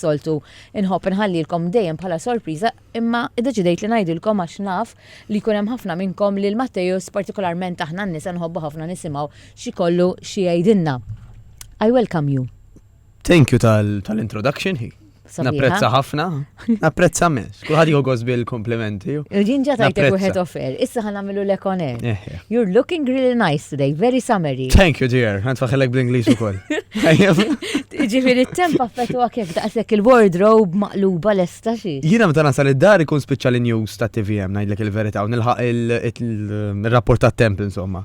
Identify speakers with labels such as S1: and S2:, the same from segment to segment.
S1: soltu inħobb inħallilkom dejjem bħala sorpriża imma iddeċidejt li ngħidilkom għax naf li jkun hemm ħafna minnkom lil Matteus partikolarment aħna n-nisa nħobbu ħafna nisimgħu x'ikollu xi jgħidilna. I welcome you. Thank you
S2: tal-introduction hi. Napprezza ħafna. Napprezza Kulħadd jieħu gost bil-komplimenti. Jien ġa tajtek
S1: wieħed offer, issa ħan nagħmilu l ekonet. Eh, eh. You're looking really nice today, very summery. Thank you dear, għand
S2: faħilek bl-Ingliż ukoll.
S1: Ġifieri t-temp affettwa kif daqshekk il-wardrobe maqluba lesta xi. Jiena meta nasal id-dar
S2: ikun spiċċa l-news ta' TVM ngħidlek il-verità u nilħaq il-rapport tat-temp insomma.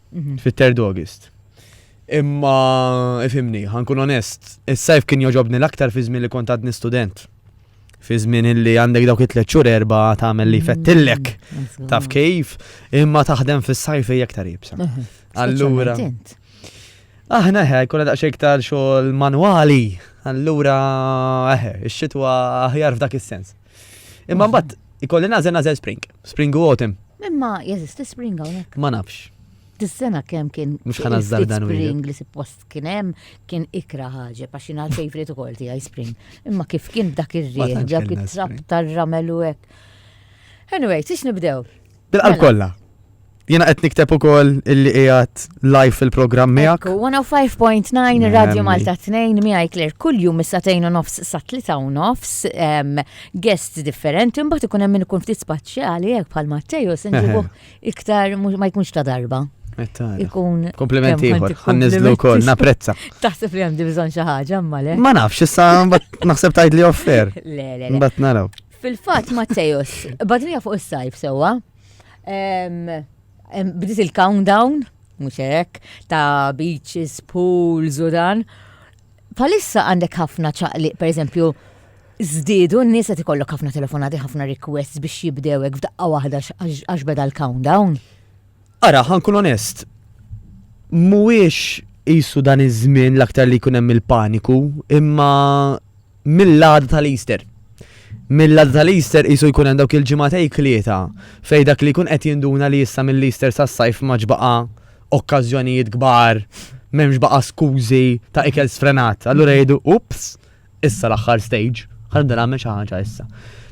S2: fit third August. Imma, ifimni, ħankun onest, is-sajf kien joġobni l-aktar fi żmien li kont għadni student. Fi żmien li għandek dawk it-tliet xhur erba' tagħmel li fettillek. Mm, Taf kif, imma taħdem fis-sajf hija aktar jibsa. Mhm. Allura. Aħna ħaj, kuna daqxie iktar xogħol manwali. Allura, eħe, ix-xitwa aħjar f'dak is-sens. Imma mbagħad ikolli nażel nażel spring, spring u autumn. Imma jeżisti
S1: spring hawnhekk. Ma nafx.
S2: Dis-sena kemm
S1: kien Mhux ħana ftit żardan wieħed. spring li suppost kien hemm kien ikra ħaġa għax jien għal favorite ukoll tiegħi spring. Imma kif kien dak Ma ir-riħ, tantx dak kellna it-trab spring. tar-ramel u hekk. Anyway, tix nibdew? Bil-qalb Mela. kollha.
S2: Jiena qed nikteb ukoll illi qiegħed live fil-programm miegħek. Ekku,
S1: 105.9 Radio Nemmi. Malta 2 miegħi Claire kuljum mis-satejn u nofs sa tlita u nofs em, guests differenti mbagħad ikun hemm min ikun ftit spaċjali hekk bħal Matteo se nġibuh iktar mhux- ma jkunx ta' darba. Mettara. Ikun Eh, Komplimenti kemm ieħor,
S2: għandek ħanniżlu komplimenti. wkoll, napprezza. Taħseb li għandi bżonn
S1: xi ħaġa imma le. Ma nafx, issa mbagħad
S2: naħseb tgħid li offer. Le, le, le. Mbagħad naraw. Fil-fatt Mattejos,
S1: badrija fuq is-sajf sewwa. Bdiet il-countdown, mhux hekk, ta' beaches, pools u dan. Palissa għandek ħafna ċaqliq, pereżempju, żdiedu n-nies qed ikollok ħafna telefonati, ħafna requests biex jibdewek f'daqqa waħda għax beda l-countdown. Ara,
S2: ħankun onest, mhuwiex qisu dan iż-żmien l-aktar li jkun hemm il-paniku, imma mill-għada tal-Easter. Mill-għada tal-Easter qisu jkun hemm dawk il-ġimgħatej klieta fejn dak li jkun qed jinduna li issa mill-Easter sas-sajf ma ġbaqa' okkażjonijiet kbar, m'hemmx baqa' skużi ta' ikel sfrenat. Allura jgħidu, ups, issa l-aħħar stage, ħa nibda nagħmel xi ħaġa issa.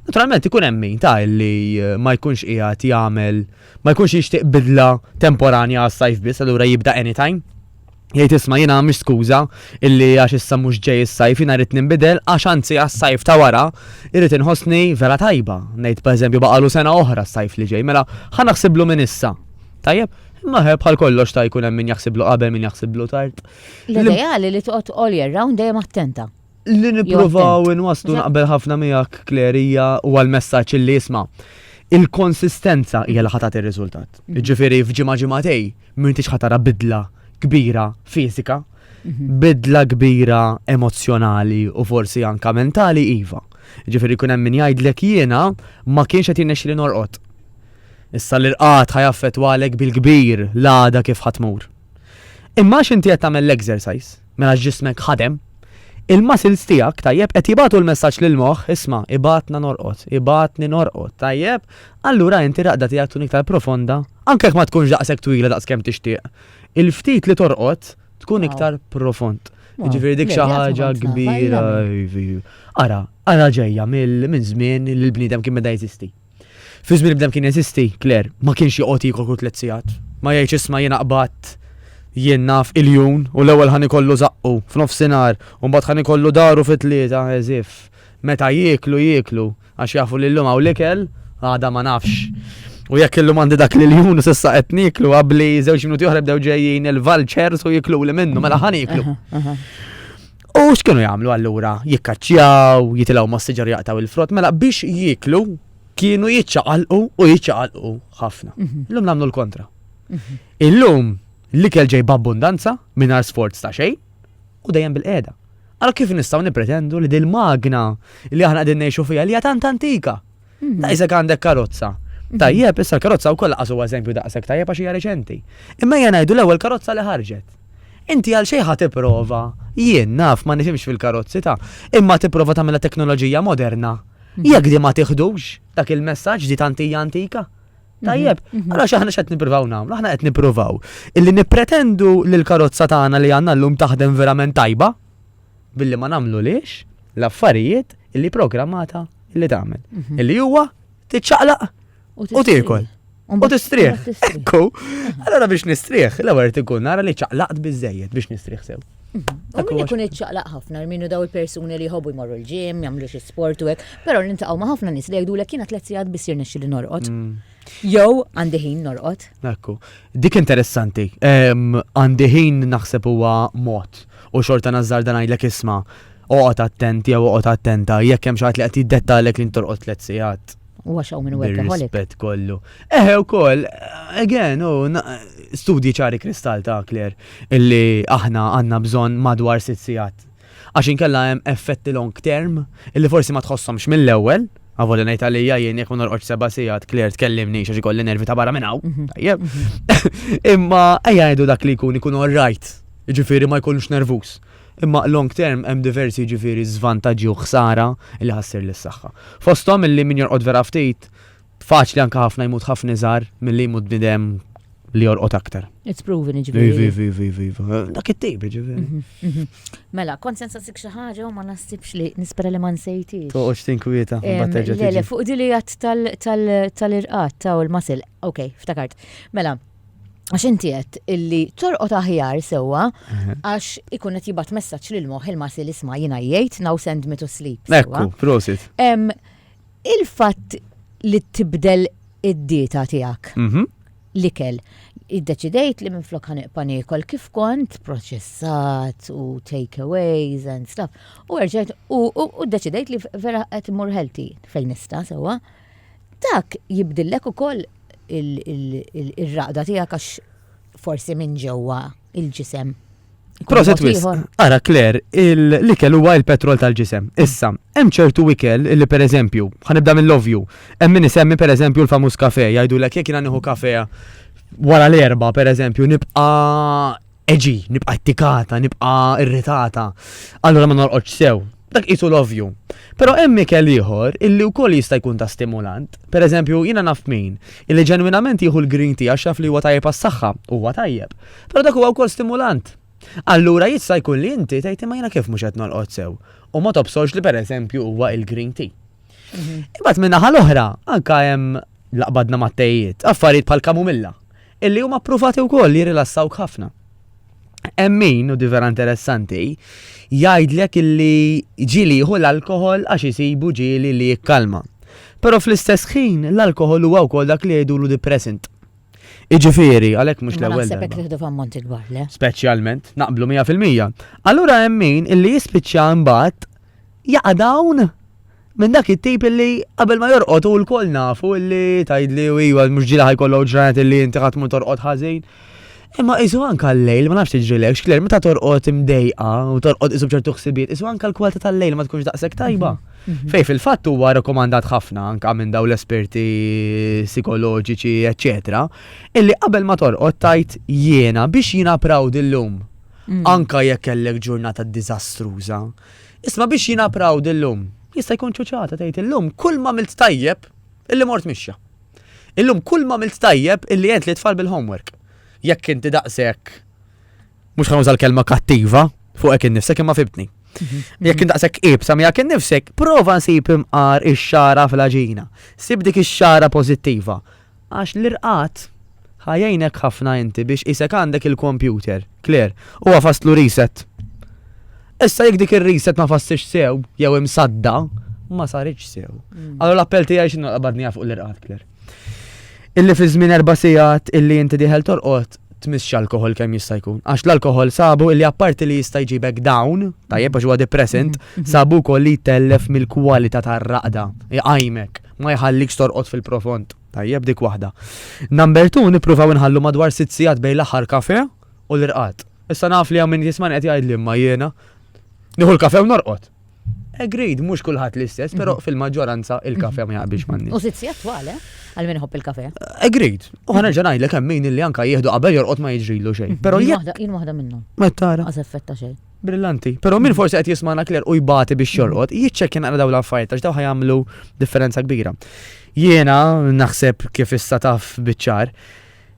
S2: Naturalment ikun hemm min ta' li eh, ma jkunx qiegħed jagħmel ma jkunx jixtieq bidla temporanja għas-sajf biss allura jibda anytime. Jgħid isma' jiena mhix skuża illi għax issa mhux ġej is-sajf jiena rrid ninbidel għax anzi għas-sajf ta' wara irrid inħossni vera tajba. Ngħid pereżempju baqalu sena oħra s-sajf li ġej mela ħa naħsiblu minn issa. Tajjeb, imma bħal kollox ta' jkun hemm min jaħsiblu qabel min jaħsiblu tard. L-ideali li
S1: toqgħod all year round dejjem attenta. Li nippruvaw
S2: inwaslu naqbel ħafna miegħek klerija u għal-messaġġ li jisma' il-konsistenza hija li ħatat ir-riżultat. Mhm. Ġifieri f'ġimgħa ġimgħatej m'intix ħatara bidla kbira fiżika, mhm. bidla kbira emozzjonali u forsi anka mentali iva. Ġifieri kun hemm min jgħidlek jiena ma kienx qed jinnexxi li norqod. Issa l-irqat ħajaffet għalek bil-kbir l-għada kif ħatmur. Imma għax inti qed tagħmel l-exercise, mela ġismek ħadem, il-muscles tiegħek, tajjeb, qed jibgħatu l-messaġġ lill-moħħ, isma' ibgħatna norqod, ibgħatni norqod, tajjeb, allura inti raqda tiegħek tkun iktar profonda, anke jekk ma tkunx daqshekk twila daqs kemm tixtieq. Il-ftit li torqod tkun iktar profond. Ġifieri dik xi ħaġa kbira. Ara, ara ġejja minn żmien li l-bniedem kien beda jeżisti. Fi żmien bdem kien jeżisti, Claire, ma kienx joqgħod jiekol kull tliet sigħat. Ma jgħidx isma' jiena qbadt jien naf iljun u l-ewwel ħa nikollu żaqqu f'nofsinhar u mbagħad ħa nikollu daru fit-tlieta as if meta jieklu jieklu għax jafu li llum hawn l-ikel għada ma nafx. U jekk illum għandi dak l-iljun u s'issa qed nieklu qabli żewġ minuti oħra bdew ġejjin il-vultures u jikluli minnu mela ħa nieklu. U x'kienu jagħmlu allura? Jikkaċċjaw, jitilgħu mas-siġar jaqtaw il-frott, mela biex jieklu kienu jiċċaqalqu u jiċċaqalqu ħafna. Mhm. Illum nagħmlu l-kontra. Mhm. Illum l-ikel ġej b'abbundanza mingħajr sforz ta' xejn u dejjem bil-qiegħda. Allora kif nistgħu nippretendu li dil-magna li aħna qegħdin ngħixu fiha li hija tant antika? Hmm. Daqsek għandek karozza. Hmm. Tajjeb, issa l-karozza u kolla għasu eżempju daqsek tajjeb għax hija reċenti. Imma jena jdu l-ewwel karozza li ħarġet. Inti għal xejn ħadd prova, jien naf ma nifimx fil-karozzi ta' imma tipprova tagħmilha teknoloġija moderna. Hmm. Jekk di ma tiħdux dak il-messaġġ di tantija antika. Tajjeb, għala xaħna xed niprovaw namlu, aħna qed niprovaw. Illi nipretendu li l-karozza tagħna li għandna llum taħdem verament tajba, billi ma nagħmlulhiex l-affarijiet illi programmata illi tagħmel. Mhm. Illi huwa tiċċaqlaq u tiekol. U tistrieħ. Ekku. Allora biex nistrieħ, l-ewwel ikun nara li ċaqlaqt biżejjed biex nistrieħ sew. Mhm. U min ikun
S1: iċċaqlaq ħafna, minnu daw il-persuni li jħobbu jmorru l-ġim, jagħmlu xi sport u hekk, però nintaqgħu ma' ħafna nies li jgħidulek kien tliet sigħat biss jirnexxi li norqod. Mm. Jew għandi ħin norqod. Ekku, dik
S2: interessanti. Għandi ħin naħseb huwa mod u xorta nazzar dan għajlek isma' oqgħod attent jew oqgħod attenta jekk hemm xi li qed jiddettalek li ntorqod tliet sigħat. U għax hawn minn
S1: workaholic. Rispett kollu.
S2: Eħe wkoll, again, u studji ċari kristall ta' Kler illi aħna għandna bżonn madwar sitt sigħat Għax inkella hemm effetti long term illi forsi ma tħosshomx mill-ewwel, avolja ngħid għalija jien jekk ma norqodx seba' sigħat Claire tkellimni għax ikolli nervi ta' barra minn hawn. Mhm. Tajjeb. Mhm. Imma ejja ngħidu dak li jkun ikun all right. Jiġifieri ma jkunx nervuż. Imma long term hemm diversi jiġifieri żvantaġġi u ħsara li ħassir lis-saħħa. Fosthom illi min jorqod vera ftit Faċli anke ħafna jmut ħafna iżgħar milli jmut bnidem li jorqod aktar. It's proven iġbiri. Iva, iva,
S1: iva, iva, iva. Dak
S2: it-tip iġbiri. Mhm, mhm. Mela, kont
S1: sensa sik xi ħaġa u ma nasibx li nispera li ma nsejti. Toqgħodx tinkwieta.
S2: Le, le, fuq dili għat
S1: tal-irqat ta' u l-masil. Ok, ftakart. Mela, għax inti għed illi torqot aħjar sewa mhm. għax ikun qed jibgħat messaġġ lil moħħ il-masil isma' jingħajjejt now send me to sleep. Ekku, prosit. Il-fatt li tibdel id-dieta tiegħek. Mhm. L-ikel. Iddeċidejt li minflok ħaneqpa' niekol kif kont, proċessat u takeaways and stuff. U erġajt u u ddeċidejt li vera qed immur healthy fejn nista' sewwa. Dak jibdillek ukoll il-raqda tiegħek għax forsi minn ġewwa il-ġisem. Proset
S2: wisq, ara Claire, l-ikel huwa il-petrol tal-ġisem. Issa, hemm ċertu ikel li pereżempju, ħanibda mill-ovvju, hemm min isemmi pereżempju l-famuż kafe, jgħidulek jekk jiena nieħu kafe wara l-erba' pereżempju nibqa' eġi, nibqa' ttikata, nibqa' irritata. Allura ma norqodx sew. Dak qisu l-ovvju. Però hemm ikel ieħor illi wkoll jista' jkun ta' stimulant. Per eżempju, jiena naf min, illi ġenwinament jieħu l-green tea għax jaf li huwa tajjeb għas-saħħa, huwa tajjeb. Però dak huwa wkoll stimulant. Allura jista' jkun li inti tgħid imma jiena kif mhux qed nolqot sew? U ma tobsgħolx li per eżempju huwa il-green tea. Imbagħad min-naħa l-oħra anke hemm, la qbadna mat-tejiet, affarijiet bħall-kamumilla. Illi huma ppruvati wkoll jirrilassawk ħafna. Hemm min, u di vera interessanti, jgħidlek illi ġieli jieħu l-alkoħol għax isibu ġieli li jikkalma. Però fl-istess ħin l-alkoħol huwa wkoll dak li jgħidulu depressant. Iġifieri, għalhekk mhux Ma l-ewwel. naħseb hekk darba. nieħdu f'ammonti
S1: kbar, le? Speċjalment, naqblu
S2: 100%. Allura hemm min illi jispiċċa imbagħad jaqa' dawn Minn dak it-tip illi qabel ma jorqod u lkoll nafu illi tgħidli u iwa mhux ġieli ħajkollok ġranet illi inti ħadd mhu torqod ħażin. Imma qisu anka l-lejl ma nafx tiġrilek xkler meta torqod imdejqa u torqod qisu b'ċertu ħsibijiet qisu anka l-kwalità tal-lejl ma tkunx daqshekk tajba. Fejn fil-fatt huwa rakkomandat ħafna anka minn dawn l-esperti sikoloġiċi eċċetera illi qabel ma torqod tgħid jiena biex jiena proud illum anka jekk kellek ġurnata diżastruża Isma' biex jiena proud illum. Jista' jkun ċuċata tgħid illum kull m'għamilt tajjeb illi mort mixja. Illum kull m'għamilt tajjeb illi għent lit-tfal bil-homework. Jekk inti daqshekk mhux ħa nuża l-kelma kattiva fuqek innifsek imma fibtni. Mhm. Jekk inti daqshekk ibsa miegħek innifsek, prova nsib imqar ix-xara fl-aġina. Sib dik ix-xara pożittiva. Għax l-irqad ħa jgħinek ħafna inti biex qisek għandek il-kompjuter. Claire, Huwa faslu reset. Issa jekk dik ir-reset ma fasslitx sew, jew imsadda, ma saritx sew. Allura l-appell tiegħi x'inhu qabadniha fuq l-irqad, Claire. Illi fi żmien erba' sigħat illi inti dieħel torqod, tmissx alkoħol kemm jista' jkun. Għax l-alkoħol sabu illi apparti li jista' jġibek down, tajjeb għax huwa depressant, sabu wkoll li jtellef mill-kwalità tar-raqda, iqajmek. Ma jħallikx torqod fil-profond. Tajjeb dik waħda. Number two, nippruvaw inħallu madwar sitt sigħat bejn l-aħħar kafe u l-irqad. Issa naf li hawn min jisman qed jgħid li ma jiena. Nieħu l-kafe u norqod. Agreed, mhux kulħadd l-istess, però mhm. fil-maġġoranza il-kafe ma jaqbilx manni. U sitt sigħat twale?
S1: Eh? għal min iħobb il-kafe. Agreed. U
S2: ħana ġa ngħidlek hemm min li anka jieħdu qabel jorqod ma jiġrilu xejn. Mhm. Però jien waħda minnhom.
S1: Ma tara. Għaż effetta
S2: xejn.
S1: Brillanti. Pero min
S2: forsi qed jismana kler u jbati biex jorqod, jiċċekkja naqra daw l-affarijiet għax daw ħajamlu differenza kbira. Jiena naħseb kif issa taf biċċar,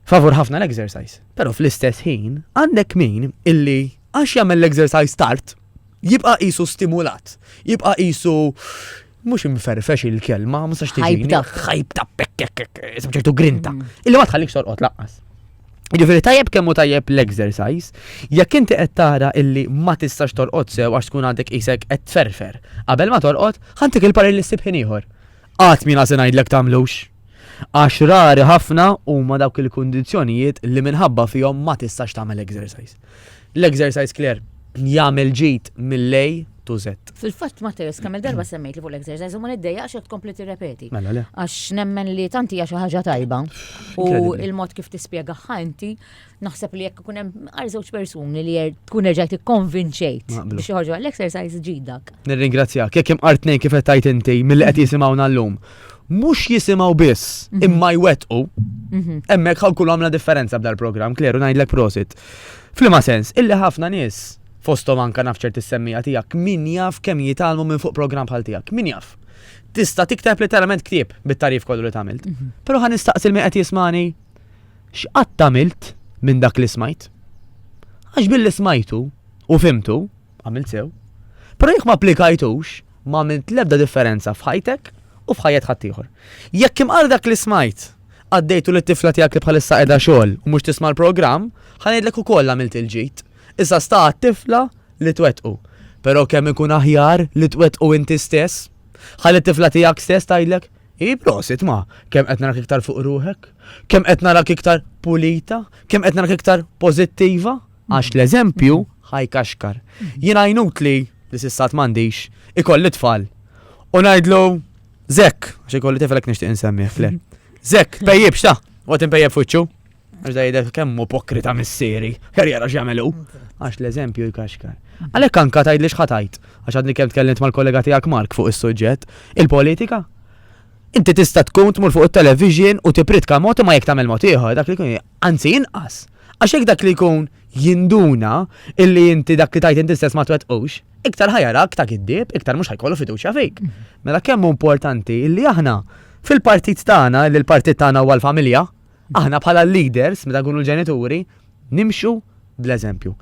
S2: favur ħafna l-exercise. Pero fl-istess ħin, għandek min illi għax jagħmel l-exercise tard, jibqa' qisu stimulat, jibqa' qisu Mhux imferfex il-kelma, ma nistax tiġini. Ħajbta, ħajbta, ċertu grinta. Mm. Illi ma tħallik sorqot laqqas. Ġifiri tajjeb kemmu tajjeb l-exercise, jekk inti qed tara illi ma tistax torqod sew għax tkun għandek isek qed tferfer. Qabel ma torqod, ħantik il-parir li ssib ħin ieħor. Qatt mina se ngħidlek tagħmlux. Għax rari ħafna huma dawk il-kundizzjonijiet li minħabba fihom ma tistax tagħmel exercise. L-exercise clear jagħmel ġid mill-A to Z. Fil-fatt Matteus kemm-il
S1: darba semmejt li fuq l-exercise u ma niddejjaqx jekk tkompli tirrepeti. Mela le. Għax
S2: nemmen li
S1: tant hija xi ħaġa tajba u l-mod kif tispjegahha inti naħseb li jekk ikun hemm għar żewġ persuni li tkun erġajt ikkonvinċejt biex joħorġu għall-exercise ġid dak. Nirringrazzjak. Jekk hemm
S2: għar tnejn kif qed tgħid inti milli qed jisimgħuna llum. mhux jisimgħu biss mhm. imma jwettqu. Mhm. Hemmhekk ħaw kullu għamla differenza b'dal programm kleru ngħidlek prosit. Flima sens, illi ħafna nies fostom anka naf ċerti semmija tiegħek min jaf kemm jitalmu minn fuq programm bħal tiegħek, min jaf. Tista' tikteb literalment ktieb bit-tarif kollu li tagħmilt. Mhm. Però ħan nistaqsi li qed jismani x'qatt tagħmilt minn dak li smajt. Għax billi smajtu u fimtu, għamilt sew. Però jekk ma applikajtux, Ma għamilt l-ebda differenza f'ħajtek u f'ħajjet ħaddieħor. Jekk imqar dak li smajt, għaddejtu lit-tifla tiegħek li bħalissa qiegħda xogħol u mhux tisma' l-programm, ħa ngħidlek ukoll għamilt il-ġid. Issa sta għat-tifla li twettqu. Però kemm ikun aħjar li twettqu inti stess? Ħalli t-tifla tiegħek stess tgħidlek, Hi prosit ma, kemm qed narak iktar fuq ruħek? Kemm qed narak iktar pulita? Kemm qed narak iktar pożittiva? Għax l-eżempju ħajkaxkar. Jien għajnut li li sissat m'għandix ikolli tfal. U ngħidlu Zek, għax ikolli tifel hekk nixtieq insemmi fler. Zek, pejjib xta, u qed inpejjeb fuċċu. Għax da jidher kemm ipokrita missieri, ħer jara x'jagħmelu. Għax l-eżempju jkaxkar. Għalhekk anka tgħid li x'ħatajt, għax għadni kemm tkellimt mal-kollega tiegħek Mark fuq is-suġġett, il-politika. Inti tista' tkun tmur fuq it-television u tipritka mod ma jekk tagħmel mod ieħor, dak li kun Anzi inqas, għax jekk dak li jkun jinduna illi inti dak li tgħid inti stess ma twettqux, iktar ħa jarak ta' giddieb, iktar mhux ħa jkollu fiduċja fik. Mela kemm hu importanti illi aħna fil-partit tagħna, illi l-partit tagħna huwa l-familja, aħna bħala l-leaders meta nkunu l-ġenituri, nimxu bl-eżempju.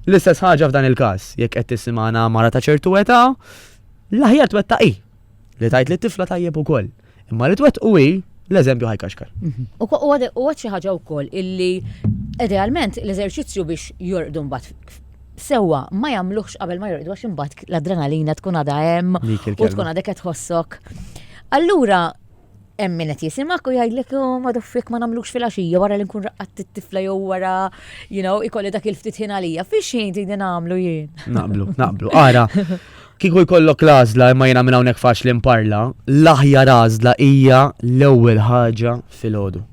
S2: L-istess ħaġa f'dan il-każ, jekk qed tisimgħana mara ta' ċertu età, l-aħjar twettaq hi li tgħid lit-tifla tajjeb ukoll. Imma li twettqu hi l-eżempju ħajkaxkar. U għad
S1: xi ħaġa wkoll illi idealment l-eżerċizzju biex jorqdu mbagħad sewa ma jagħmluhx qabel ma jorqdu għax imbagħad l-adrenalina tkun għadha hemm u tkun għadek qed tħossok. Allura hemm min qed jisimak u jgħidlek oh, ma doffik ma nagħmlux fil-għaxija wara li nkun raqqat it-tifla jew wara you know ikolli dak il-ftit ħin għalija fiex jien din nagħmlu jien. Naqblu, naqblu. Ara, Kieku jkollok l-għażla imma jiena minn hawnhekk faċli nparla, l-aħjar għażla hija l-ewwel ħaġa filgħodu.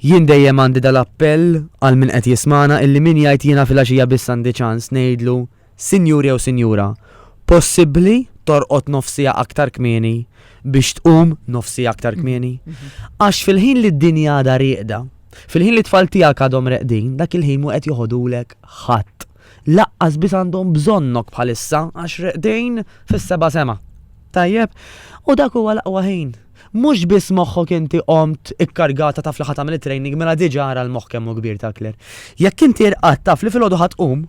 S1: Jien dejjem għandi dal-appell għal min qed jismagħna illi min jgħid jiena filgħaxija biss għandi ċans ngħidlu, Sinjur jew Sinjura, possibbli torqod nofsija aktar kmieni biex tqum nofsija aktar kmieni? Għax fil-ħin li d-dinja għadha rieqda, fil-ħin li tfal tiegħek għadhom reqdin, dak il-ħin mu qed joħodulek ħadd. Laqqas biss għandhom bżonnok bħalissa għax reqdejn fis-seba' sema. Tajjeb? U dak huwa l-aqwa ħin. Mhux biss moħħok inti qomt ikkargata taf li ħadd tagħmel it-training mela diġà ara l-moħħ kemm hu kbir takler. Jekk inti rqad taf li filgħodu ħadd tqum,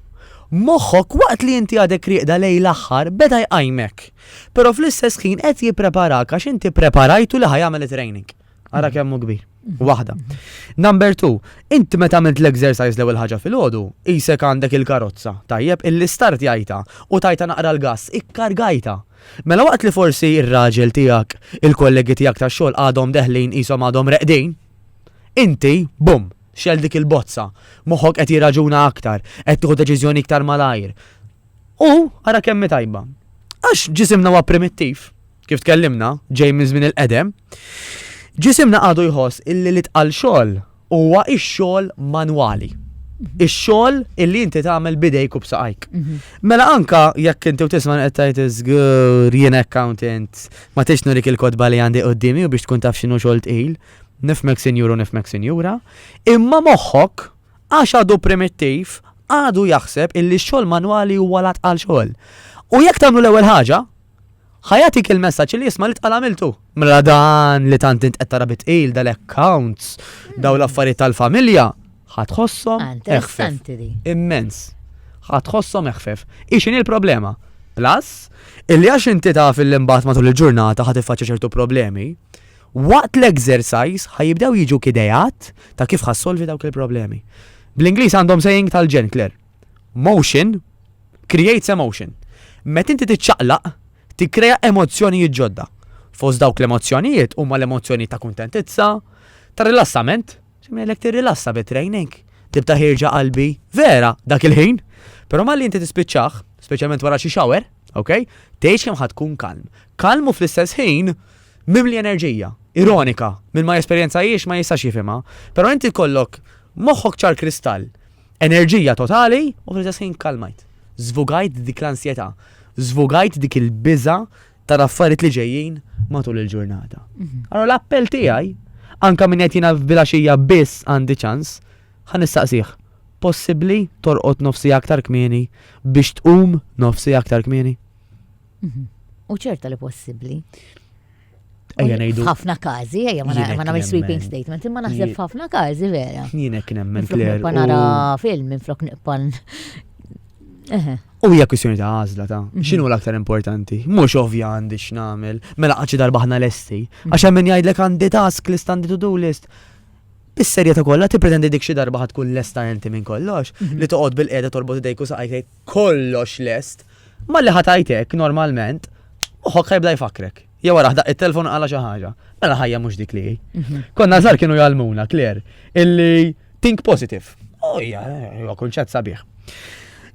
S1: moħħok waqt li inti għadek rieqda lejn l-aħħar beda jqajmek. Però fl-istess ħin qed jippreparak għax inti ppreparajtu li ħa jagħmel it-training. Ara mm. kemm hu kbir. Mm-hmm. Waħda. Mm-hmm. Number two, inti meta għamilt l-exercise l-ewwel ħaġa fil-ħodu, isek għandek il-karozza, tajjeb, illi start jajta u tajta naqra l-gass, ikkargajta. Mela waqt li forsi ir-raġel tiegħek, il-kollegi tiegħek ta' xogħol għadhom deħlin ishom għadhom reqdin, inti, bum, xel dik il-bozza, moħħok qed jirraġuna aktar, qed tieħu deċiżjoni iktar malajr. U ara kemm tajba. Għax ġisimna huwa primittiv. kif tkellimna, ġej minn żmien il-qedem, ġisimna għadu jħoss illi li tqal xogħol huwa x-xogħol manwali.
S2: Ix-xogħol illi inti tagħmel bidejk u b'saqajk. Mhm. Mela anka jekk inti u tisma' qed tgħid iżgur jien accountant ma tix nurik il-kotba li għandi qudiemi u biex tkun taf x'inhu xogħol tqil, nifmek sinjur u nifmek sinjura, imma moħħok għax għadu primittiv għadu jaħseb illi x-xogħol manwali huwa lat għal xogħol. U jekk tagħmlu l-ewwel ħaġa, Ħa jagħtik il-messaġġ li jisma' li tqal għamiltu. Mela dan li tant int qed tara bitqil dal-accounts, daw l-affarijiet tal-familja, ħa tħossom Ah, eħfef. interessanti
S1: di. Immens.
S2: Ħa tħossom eħfef. Ixin il-problema. Plus, illi għax inti taf il imbagħad matul il-ġurnata ħa tiffaċċja ċertu problemi, waqt l-exercise ħa jibdew jiġu kidejat ta' kif ħassolvi dawk il-problemi. Bl-Ingliż għandhom saying tal-ġen, Claire. Motion creates emotion. Meta inti tiċċaqlaq, tikkrea emozzjonijiet ġodda. Fost dawk l-emozzjonijiet huma l-emozzjoni ta' kuntentizza, ta' rilassament, x'imgħidlek tirrilassa bi training. Tibta' ħirġa qalbi, vera, dak il-ħin. Però malli inti tispiċċaħ, speċjalment wara xi shower, ok? Tgħix kemm ħad tkun kalm. Kalm u fl-istess ħin mimli enerġija, ironika, minn ma jesperjenza jiex ma jistax jifhimha. Però inti kollok moħħok ċar kristall enerġija totali u fl-istess ħin kalmajt. Żvugajt dik l-ansjetà, żvugajt dik il-biża ta' affarijiet li ġejjin matul il-ġurnata. Mhm. Allora l-appell tiegħi, anka minn qed jiena f'bilaxija biss għandi ċans, ħa nistaqsih. Possibbli torqod nofsi aktar kmieni biex tqum nofsi aktar kmieni? Mhm.
S1: U ċerta li possibbli.
S2: Ejja ngħidu. Ħafna każi, ejja
S1: ma nagħmel sweeping statement, imma naħseb ħafna każi vera. Jien hekk nemmen Claire.
S2: Ma nara film
S1: minn flok niqpan.
S2: U hija kwistjoni ta' għażla ta' mhm. x'inhu l-aktar importanti. Mhux ovvja għandi x'nagħmel, mela qaċi darba ħna lesti. Mhm. Għax hemm min jgħidlek għandi task list għandi to-do list. Bis-serjetà kollha tippretendi dik xi darba ħad tkun lesta inti minn kollox mhm. li toqgħod bil-qiegħda torbot idejku saqajk kollox lest, malli ħa tgħid hekk normalment, moħħok ħajbda jfakkrek. Jew wara ħdaq it-telefon għala xi ħaġa. Mela ħajja mhux dik li hi. Mhm. Konna żar kienu jgħalmuna, Kler, illi think positive. Oh, ja, huwa kunċett sabiħ.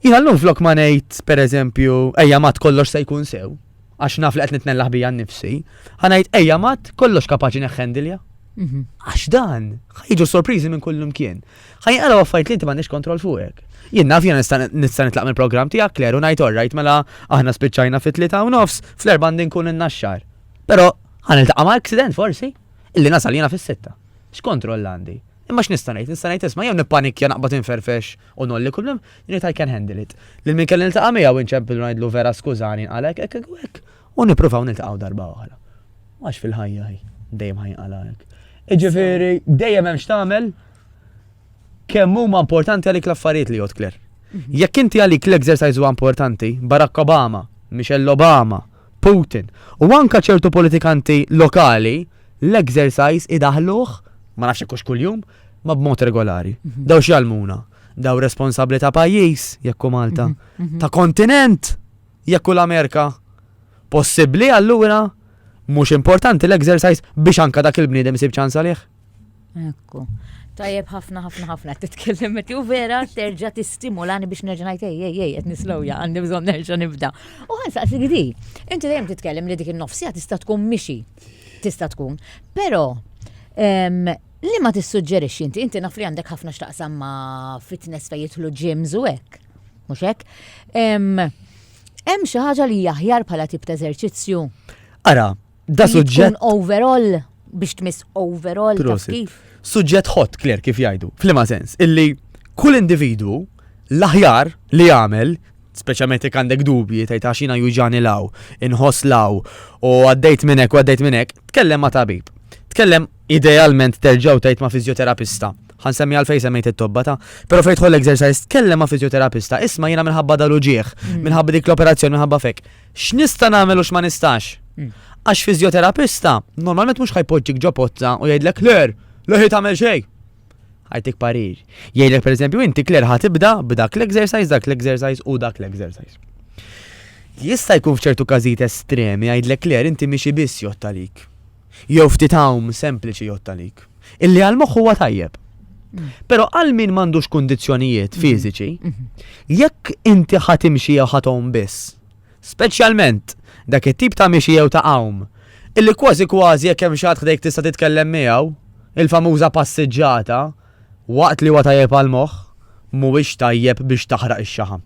S2: Jina l-lum flok ma nejt, per eżempju, ejja mat kollox se jkun sew. għax naf li qed nitnellaħ bija nnifsi, ħa ngħid ejja mat kollox kapaċi neħħendilja. Mhm. Għax dan, ħajġu sorpriżi minn kullum kien. Ħajn għala għaffajt li inti m'għandix kontroll fuqek. Jien naf jena nista' nitlaq mill-programm tiegħek kler u ngħid orrajt mela aħna spiċċajna fit tlita u nofs fl-erba' nkun in-naxxar. Però ħan iltaqa' ma' accident forsi illi nasal jiena fis-sitta. X'kontroll għandi? Imma x'nista' ngħid? Nista' ngħid isma' jew nippanikja naqbad inferfex U nolli kull mem, jien I can handle it. Lil min kelli niltaqa' miegħu inċempillu ngħidlu vera skużani nqala' hekk, hekk u hekk, u nippruvaw niltaqgħu darba oħra. Għax fil-ħajja hi, dejjem ħa jinqala' hekk. Iġifieri dejjem hemm x'tagħmel kemm huma importanti għalik l-affarijiet li jgħod Claire. Mhm. Jekk inti għalik l-exercise huwa importanti, Barack Obama, Michelle Obama, Putin, u anka ċertu politikanti lokali, l-exercise idaħluħ, ma nafx kux kull-jum, Ma b'mod regolari. Daw x'jallmuna? Daw responsabbli ta' pajjiż, jekk hu Malta, ta' kontinent, jekk hu l-Amerika. Possibbli allura mhux importanti l-exercise biex anke dak il-bniedem isib ċans għalih? Ekku.
S1: Tajjeb ħafna ħafna ħafna titkellem meti u vera terġa' tistimulani biex nerġa' ngħid ej ej ej qed nislowja għandi bżonn nerġa' nibda. U ħansaqsi gidi, inti dejjem titkellem li dik in-nofsija tista' tkun mixi. Tista' tkun. Però Liema tissuġġerixxi inti? Inti naf li għandek ħafna x'taqsam ma' fitness fejn jidħlu gyms u hekk. Mhux hekk? Hemm xi ħaġa li hija aħjar bħala tip ta' eżerċizzju? Ara,
S2: da suġġett. overall
S1: biex tmiss overall taf kif. Suġġett hot, Claire,
S2: kif jgħidu. Flima sens, illi kull individu l-aħjar li jagħmel speċjalment jekk għandek dubji tgħid għax jiena juġani law, inħoss law u għaddejt minnek u għaddejt minnek, tkellem ma' tabib. Tkellem Idealment terġa' u tgħid ma' fiżjoterapista. Ħa nsemmi għalfejn semmejt it-tobba ta'. Però fejn tħoll exercise tkellem ma' fiżjoterapista, isma' jiena minħabba dal-uġigħ, mm. minħabba dik l-operazzjoni, minħabba fek. X'nista' nagħmel u x'ma nistax? Mm. Għax fiżjoterapista normalment mhux ħajpoġġik ġo pozza u jgħidlek ler, leħi tagħmel xejn. Għajtik parir. Jgħidlek pereżempju inti kler ħatibda b'dak l-exercise, dak l-exercise u dak l-exercise. Jista' jkun f'ċertu każijiet estremi jgħidlek ler inti miexi biss jgħod talik jew ftit għawm sempliċi jgħodd għalik, illi għall-moħħ huwa tajjeb. Però għal min m'għandux kundizzjonijiet mhm. fiżiċi, mhm. jekk inti ħadd imxi jew ħadd biss, speċjalment dak it-tip ta' mixi jew ta' għawm, illi kważi kważi jekk hemm xi ħadd ħdejk tista' titkellem miegħu, il-famuża passiġġata, waqt li huwa tajjeb għal moħħ, mhuwiex tajjeb biex taħraq ix-xaħam.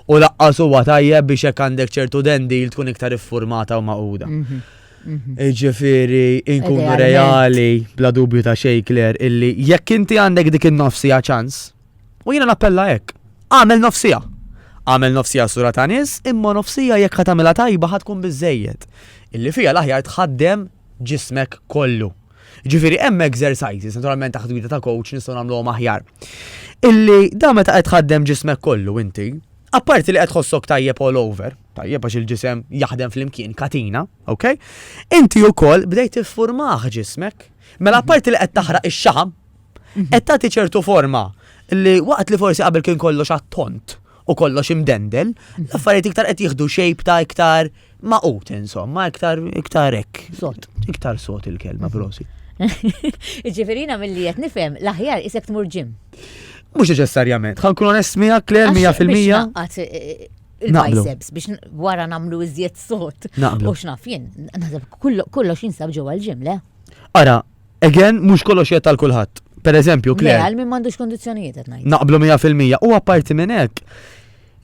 S2: U laqqas huwa tajjeb biex hekk għandek ċertu dendil tkun iktar iffurmata u maquda. Mhm. Ġifiri, inkunu reali, bla dubju ta' xej, Kler, illi jekk inti għandek dik il-nofsija ċans, u jina nappella hekk, għamel nofsija. Għamel nofsija sura ta' nis, imma nofsija jekk ħatamela tajba ħatkun bizzejed. Illi fija l-aħjar tħaddem ġismek kollu. Ġifiri, hemm exercises, naturalment taħt gwida ta' coach nistgħu nagħmluhom aħjar. Illi da meta qed tħaddem ġismek kollu inti, apparti li qed tħossok tajjeb all over, tajjeb għax il-ġisem jaħdem flimkien katina, ok? Inti wkoll bdejt tiffurmah ġismek. Mela mhm. parti li qed taħraq ix-xaħam, mhm. qed tagħti ċertu forma li waqt li forsi qabel kien kollox għat-tont u kollox imdendel, mhm. l-affarijiet iktar qed jieħdu xejp ta' iktar maqut insomma, iktar iktar hekk. Sot. Iktar
S1: sot il-kelma
S2: prosi.
S1: Ġiverina mill-li qed nifhem l-aħjar isek tmur ġim. Mhux
S2: neċessarjament. Ħankun onest miegħek kler 100%. il-biceps
S1: biex wara namlu iżjed sot. Naqblu. U xnaf jien,
S2: naħseb
S1: kollox jinsab ġewwa l-ġim, le? Ara,
S2: again, mhux kollox jgħid tal kulħadd. Per eżempju, Claire. Għal minn m'għandux
S1: kondizzjonijiet qed ngħid. Naqblu 100% u
S2: apparti minn hekk,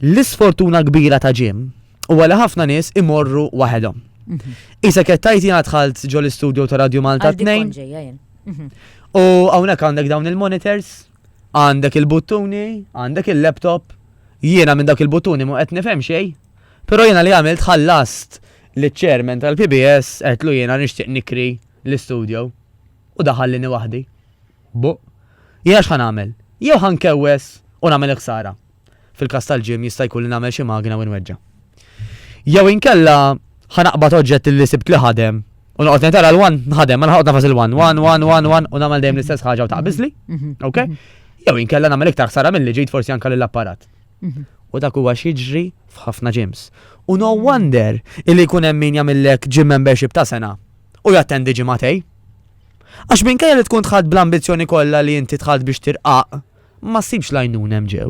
S2: l-isfortuna kbira ta' ġim u għala ħafna nies imorru waħedhom. Mhm. Isa kettajti għadħalt ġol istudio ta' Radio Malta 2. Mhm. U għawnek għandek dawn il-monitors Għandek il-buttuni, għandek il-laptop, jiena minn dawk il-buttuni mhu qed nifhem xejn, però jiena li għamilt ħallast liċ-chairman tal-PBS għedtlu jiena nixtieq nikri l-istudio u daħallini waħdi. Buh! Jiena x'ħa nagħmel? Jew ħa nkewwes u nagħmel il-ħsara. Fil-każ tal-gym jista' jkun li nagħmel xi magna u nweġġa'. Jew inkella ħa naqbad oġġett li sibt li ħadem u noqgħod ngħid ara l-one nħadem, mela ħa noqgħod nagħfas il-one, one, one, one, one u nagħmel dejjem l-istess ħaġa u taqbiżli. Ok? Jew inkella nagħmel iktar ħsara milli ġejt forsi anke lill-apparat. U dak huwa x'jiġri f'ħafna gyms. U no wonder illi jkun hemm min jagħmillek gym membership ta' sena u jattendi ġimagħtej. Għax minkejja li tkun tħadd bl-ambizzjoni kollha li inti tħadd biex tirqaq, ma ssibx l-għajnuna hemm ġew.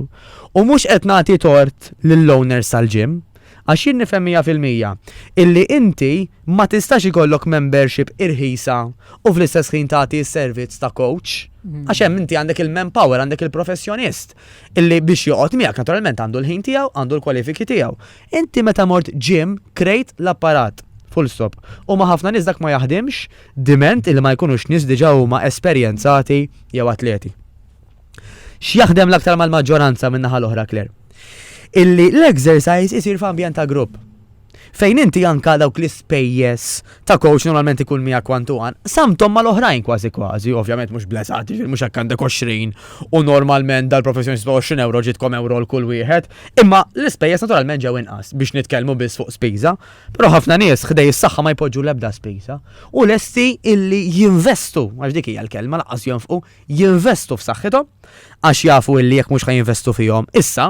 S2: U mhux qed nagħti tort lill-owners tal-gym, għax jien nifhem mija fil-mija illi inti ma tistax ikollok membership irħisa u fl-istess ħin tagħti s-servizz ta' coach, għax hemm inti għandek il-manpower, għandek il-professjonist illi biex joqgħod miegħek naturalment għandu l-ħin tiegħu, għandu l-kwalifiki tiegħu. Inti meta mort gym krejt l-apparat. Full stop. U ma ħafna nies dak ma jaħdimx diment illi ma jkunux nies diġà huma esperjenzati jew atleti. X'jaħdem l-aktar mal-maġġoranza minn naħa l-oħra Claire? Illi l-exercise isir f'ambjent ta' grupp. Fejn inti anka dawk l-ispejjeż ta' coach normalment ikun mija kwantu għan, samtom mal-oħrajn kważi kważi, ovvjament mhux bleżat, jiġifieri mhux hekk għandek 20 u normalment dal-professjoni 20 euro ġitkom euro l kull wieħed, imma l-ispejjeż naturalment ġew inqas biex nitkellmu biss fuq spiża, però ħafna nies ħdej is-saħħa ma jpoġġu l-ebda spiża u lesti illi jinvestu, għax dik hija l-kelma laqqas jonfqu, jinvestu f'saħħithom għax jafu illi jekk mhux ħajinvestu fihom issa,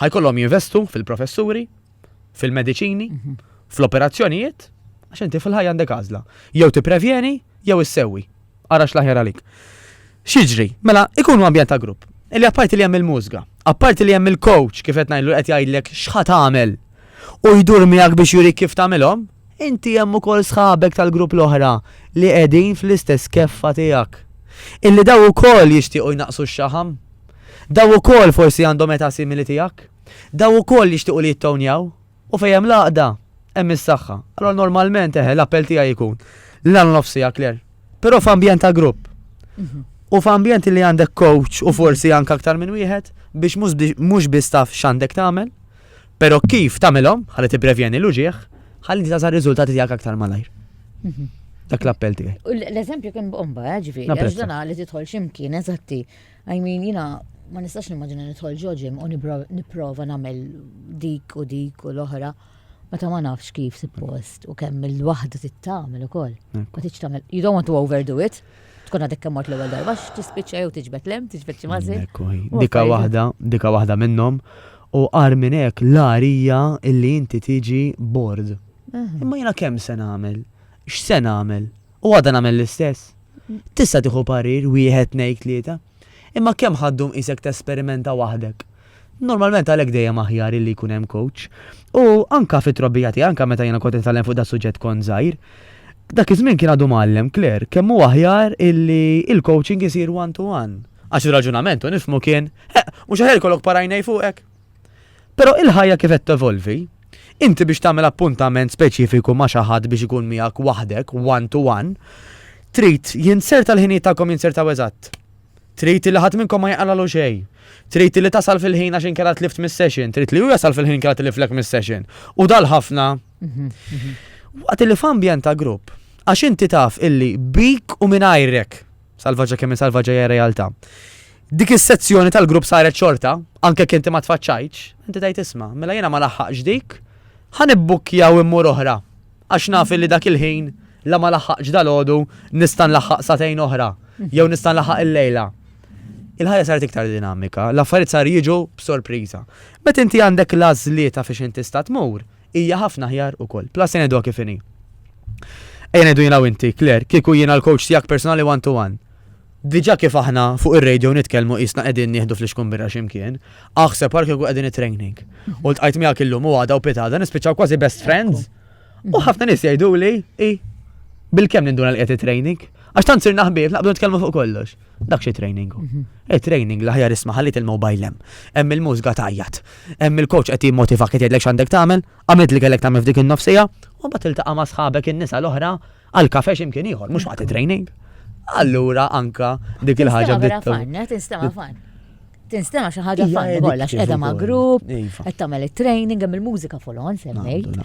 S2: ħajkollhom jinvestu fil-professuri, fil-mediċini, mhm. fl-operazzjonijiet, għax inti fil-ħajja għandek għażla. Jew tipprevjeni jew issewwi. Ara x'laħjar għalik. Xiġri, mela ikunu ambjent ta' grupp. Illi apparti li hemm il-mużga, apparti li hemm il-coach kif qed ngħidlu qed jgħidlek x'ħa tagħmel u jdur miegħek biex jurik kif tagħmilhom, Inti hemm ukoll sħabek tal-grupp l-oħra li qegħdin fl-istess keffa tiegħek. Illi daw ukoll jixtiequ jnaqqsu x-xaħam. Daw ukoll forsi għandhom età simili tiegħek. Daw ukoll jixtiequ li jittownjaw. U fejn hemm l-għaqda, hemm is-saħħa. Allura normalment, eħe, l-appell tiegħi jkun li nagħmlu nofs siegħa, Claire. Però f'ambjent ta' grupp. U f'ambjent li għandek coach u forsi anke aktar minn wieħed biex mhux biss taf x'għandek tagħmel, Però kif tagħmilhom ħalli tipprevjeni l-uġigħ, ħalli tagħża r-riżultati tiegħek aktar malajr. Mhm. Dak l-appell tiegħi. L-eżempju kien bomba,
S1: eh, ġifieri, għax dan li tidħol x'imkien eżatti. I mean, jina ma nistax nimmaġina nidħol ġoġim u nipprova nagħmel dik u dik u l-oħra. Meta ma nafx kif suppost u kemm il-waħda tittamel ukoll. Ma titx tagħmel. You don't want to overdo it. Tkun għadek kemm mort l-ewwel darba x'tispiċċa jew tiġbed lem, tiġbed xi mażi. Dika waħda,
S2: dika waħda minnhom. U qar minn hekk l-arija illi inti tiġi bord. Imma jiena kemm se nagħmel? X'se nagħmel? U għadha nagħmel l-istess. Tista' tieħu parir wieħed ngħid tlieta. Imma kemm ħa ddum qisek tesperimenta waħdek? Normalment għalhekk dejjem aħjar illi jkun hemm coach. U anke fit-trobbija tiegħi, anke meta jiena kont nitgħallem fuq das-suġġett kont żgħir, dak iż-żmien kien għadu mgħallem Claire kemm hu aħjar illi l-coaching isir one to one. Għax ir-raġunament, u nifhmu, kien, Eħ, mhux aħjar ikollok par għajnej fuqek? Però il-ħajja kif qed tevolvi, inti biex tagħmel appuntament speċifiku ma' xi ħadd biex ikun miegħek waħdek, one to one, trid jinzerta l-ħinijiet tagħkom jinzertaw eżatt. Trid li ħadd minnkom ma jaqalalu xejn. Trid li tasal fil-ħin għax inkella tlift mis-session, trid li hu jasal fil-ħin inkella tliflek mis-session. U dal ħafna. Mhm, mhm. Waqt li f'ambjent ta' grupp, għax inti taf illi bik u minn Salvaġġa kemm salvaġġa hija realtà. Dik is-sezzjoni tal-grupp saret xorta, anke kinti ma tfaċċajtx, inti tgħid isma', mela jiena ma laħħaqx dik, ħa nibbukkja u immur oħra. Għax naf li dak il-ħin la ma laħħaqx dal-għodu nista' nlaħħaq satejn oħra, jew nista' nlaħħaq il-lejla. Il-ħajja saret iktar dinamika, l-affarijiet sar jiġu b'sorpriża. Meta inti għandek l-għażlieta fiex inti sta tmur, hija ħafna aħjar ukoll. Plus se ngħiduha kif inhi. Ejja ngħidu jiena u inti, Claire, kieku jiena l-coach tiegħek personali one to one. Diġà kif aħna fuq ir-radio nitkellmu qisna qegħdin nieħdu flixkun birra x'imkien, aħseb għal kieku qegħdin it-training. U ltqajt miegħek illum u għada u pitada nispiċċaw kważi best friends. U ħafna nies jgħiduli, i bil-kemm ninduna l-qed it-training. Għax tant sirna ħbieb, naqbdu nitkellmu fuq kollox. Dak xi training. Mhm. E training l-ħajar isma' ħallit il-mobile hemm. Hemm il-mużga tajjat. Hemm il-coach qed jimmotiva qed jgħidlek x'għandek tagħmel, għamilt li kellek tagħmel f'dik in-nofsija, u mbagħad tiltaqa' ma' sħabek in-nisa l-oħra għal kafe x'imkien ieħor, mhux waqt training. Allura anka dik il-ħaġa bdiet. Tinstema'
S1: fan. Tinstema xi ħaġa fanni kollha għax qiegħda ma' grupp, iva. qed tagħmel it-training hemm il-mużika folon semmejt.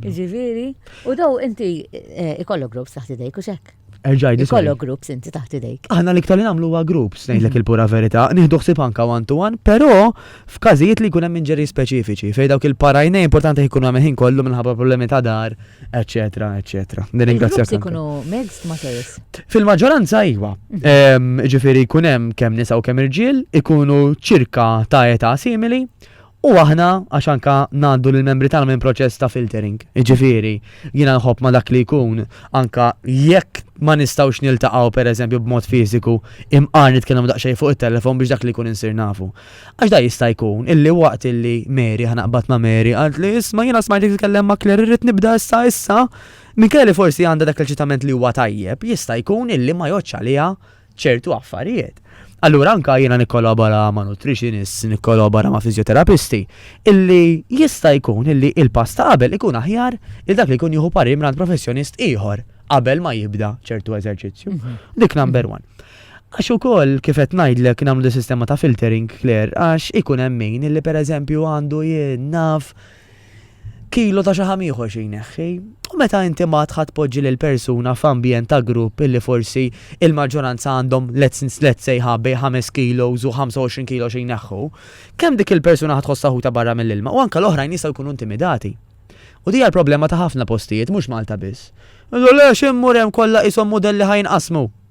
S1: Ġifieri, u daw inti eh, ikollok grupp taħt idejk u xek. Erġaj, Ikollu groups inti taħt idejk. Aħna li ktar namlu huwa
S2: groups, ngħidlek mhm. il-pura verità, nieħdu ħsib anka one to one, però f'każijiet li jkun hemm inġeri speċifiċi, fejn dawk il-parajnej importanti jkunu hemm ħin kollu minħabba problemi ta' dar, eccetera, eccetera. Nirringrazzjak. Se jkunu
S1: mixed ma sejs. Fil-maġġoranza
S2: iwa. Mhm. Ġifieri jkun hemm kemm nisa u kemm irġiel, ikunu ċirka ta' età simili. U aħna għax anka ngħaddu lill membri tagħna minn proċess ta' filtering. Ġifieri, jiena nħobb ma dak li jkun anka jekk ma nistgħux niltaqgħu pereżempju b'mod fiżiku imqar nitkellem daqsxejn fuq it-telefon biex dak li jkun insir nafu. Għax da jista' jkun illi waqt illi Mary, ħa naqbad ma' Mary, qaltli, Isma' jiena smajtek titkellem ma' Claire irrid nibda issa issa, minkejja li forsi għandha dak l-eċitament li huwa tajjeb, jista' jkun illi ma jgħoddx għaliha ċertu affarijiet. Allura anke jiena nikkolabora ma' nutritionist, nikkolabora ma' fiżjoterapisti, illi jista' jkun illi il-pass ta' qabel ikun aħjar li dak li jkun jieħu parir mingħand professjonist ieħor qabel ma jibda ċertu eżerċizzju. Dik number one. Għax ukoll, kif qed ngħidlek, nagħmlu din is-sistema ta' filtering, Claire, għax ikun hemm min li pereżempju għandu, jien naf, kilo ta' xi ħam ieħor xi jneħħi. U meta inti mbagħad ħa tpoġġi lill-persuna f'ambjent ta' grupp illi forsi l-maġġoranza għandhom let's let's say ħa bejn ħames kilos u ħamsa u għoxrin kilo xi jneħħu, kemm dik il-persuna ħa tħossha ħutha barra mill-ilma u anke l-oħrajn jistgħu jkunu intimidati. U din hija l-problema ta' ħafna postijiet, mhux Malta biss. Jgħidu, Le, x'immur hemm kollha qishom mudelli ħa jinqasmu.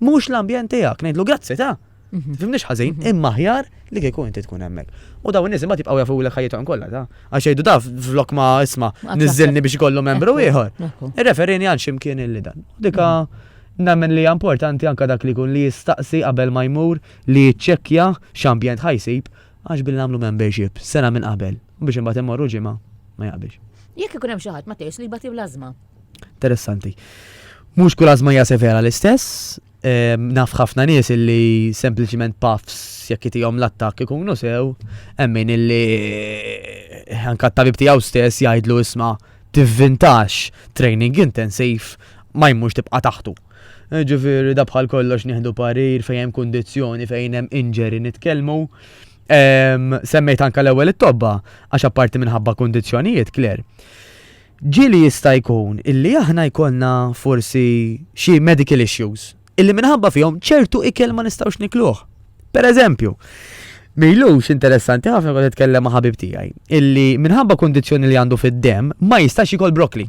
S2: Mhux l-ambjent tiegħek, ngħidlu grazzi ta' Mhm. Fimniex ħażin, mhm. imma ħjar li kieku inti tkun hemmhekk. U daw in-nies imbagħad jibqgħu jafu lek ħajjithom kollha ta. Għax jgħidu daf flok ma isma' niżilni biex ikollu membru ieħor. Irreferini għal ximkien illi dan. Dika mhm. nemmen li importanti anka dak li kun li jistaqsi qabel ma jmur li jiċċekkja x'ambjent ħajsib għax billi nagħmlu membership sena minn qabel u biex imbagħad immorru ġimgħa ma jaqbilx. Jekk ikun hemm xi ħadd ma
S1: tgħix li jbati bl-ażma. Interessanti.
S2: Mhux kull għażma hija severa l-istess, naf ħafna nies illi sempliciment puffs jekk itihom l-attak ikunu sew, emmin illi eh, anka t-tabib tiegħu stess jgħidlu isma' tivvintax training intensiv ma jmux tibqa' taħtu. Eh, ġifieri da bħal kollox nieħdu parir fejn hemm kundizzjoni fejn hemm inġeri nitkellmu. Semmejt anka l-ewwel it-tobba għax apparti minħabba kundizzjonijiet kler. Ġieli jista' jkun illi aħna jkollna forsi xi medical issues illi minħabba fihom ċertu ikel ma nistgħux nikluh. Per eżempju, m'ilux interessanti ħafna kont nitkellem ma' ħabib tiegħi illi minħabba kundizzjoni li għandu fid-demm ma jistax jikol broccoli.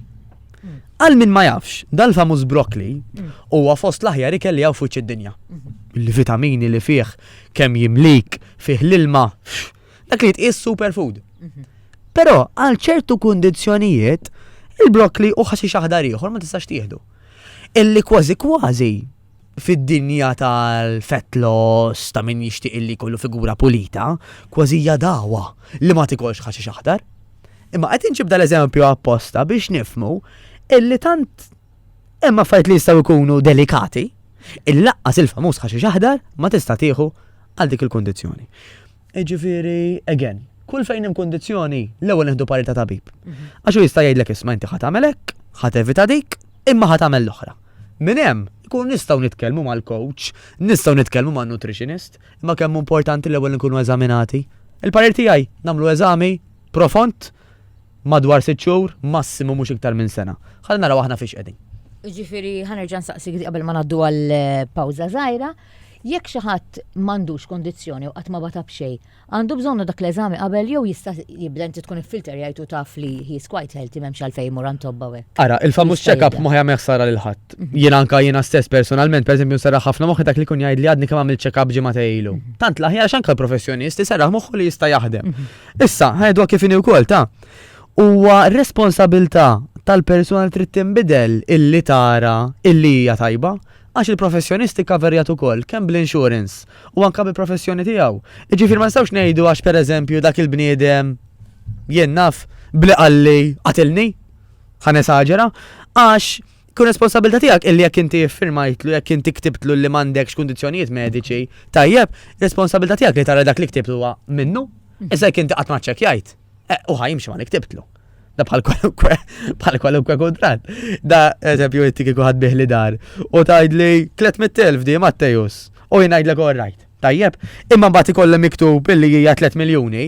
S2: Għal min ma jafx, dal-famuż broccoli huwa fost l-aħjar ikel li hawn f'wiċċ id-dinja. Il-vitamini li fih kemm jimlik, fih l-ilma, Dak li jitqies superfood. Mhm. Però għal ċertu kundizzjonijiet il-brokli u ħaxi xaħdar ieħor ma tistax tieħdu. Illi kważi kważi fid-dinja tal-fat loss ta' min jixtieq illi kollu figura pulita, kważi jadawa li ma tikolx ħaxi xaħdar. Imma qed inġib dal-eżempju apposta biex nifmu illi tant Hemm affarijiet li jistgħu jkunu delikati, il-laqqas il-famuż ħaxix aħdar ma tista' tieħu għal dik il-kundizzjoni. Ġifieri, again, kull fejn hemm kundizzjoni l-ewwel neħdu parità tabib. Mhm. Għax hu jista' jgħidlek isma' inti ħadd tagħmel hekk, ħadd evita dik, imma ħadd tagħmel l-oħra. Min hemm, ikun nistgħu nitkellmu mal-coach, nistgħu nitkellmu man nutritionist, imma kemm importanti l-ewwel nkunu eżaminati. Il-parir tiegħi nagħmlu eżami profond Madwar sitt xhur, massimu mhux iktar minn sena. Ħalli naraw aħna fiex qegħdin. Ġifieri ħanerġa'
S1: nsaqsik qabel ma ngħaddu għal eh, pawża żgħira, jekk xi ħadd m'għandux kondizzjoni u qatt ma bata b'xejn, għandu bżonnu dak l-eżami qabel jew jista' jibda inti tkun il-filter jgħidu taf li he's quite healthy m'hemmx għalfejn imur għand tobba hekk. Ara, il-famuż check-up
S2: ma ħajja meħsara lil ħadd. Mhm. Jiena anka jiena stess personalment, pereżempju nsarraħ ħafna moħħi dak li kun jgħid li għadni kemm għamil check-up ġimgħa ilu. Mhm. Tant l-aħjar x'anka l-professjonist isarraħ moħħu li jista' jaħdem. Mhm. Issa, ħajdu kif inhi wkoll ta' huwa responsabilità tal-persuna li trid tinbidel illi tara illi hija tajba għax il-professjonist ikkaverjat ukoll kemm bl-insurance u anke bil-professjoni tiegħu. Jiġifieri ma nistgħux ngħidu għax pereżempju dak il-bniedem jien naf bli qalli qatilni, ħa nesaġera, għax Kun responsabilità tiegħek illi jekk inti iffirmajtlu, jekk inti ktibtlu li m'għandekx kundizzjonijiet mediċi, tajjeb, responsabilità tiegħek li tara dak li ktibtlu huwa minnu. Mhm. Issa jekk inti qatt ma ċċekkjajt, eh, u ħajimx ma li ktibtlu. Da bħal kwalunkwe, bħal kwalunkwe kontrat. Da eżempju inti kieku ħad biħli dar u tgħidli 300,000 di Mattejus u jingħidlek all right. Tajjeb, imma mbagħad ikollha miktub illi hija 3 miljuni,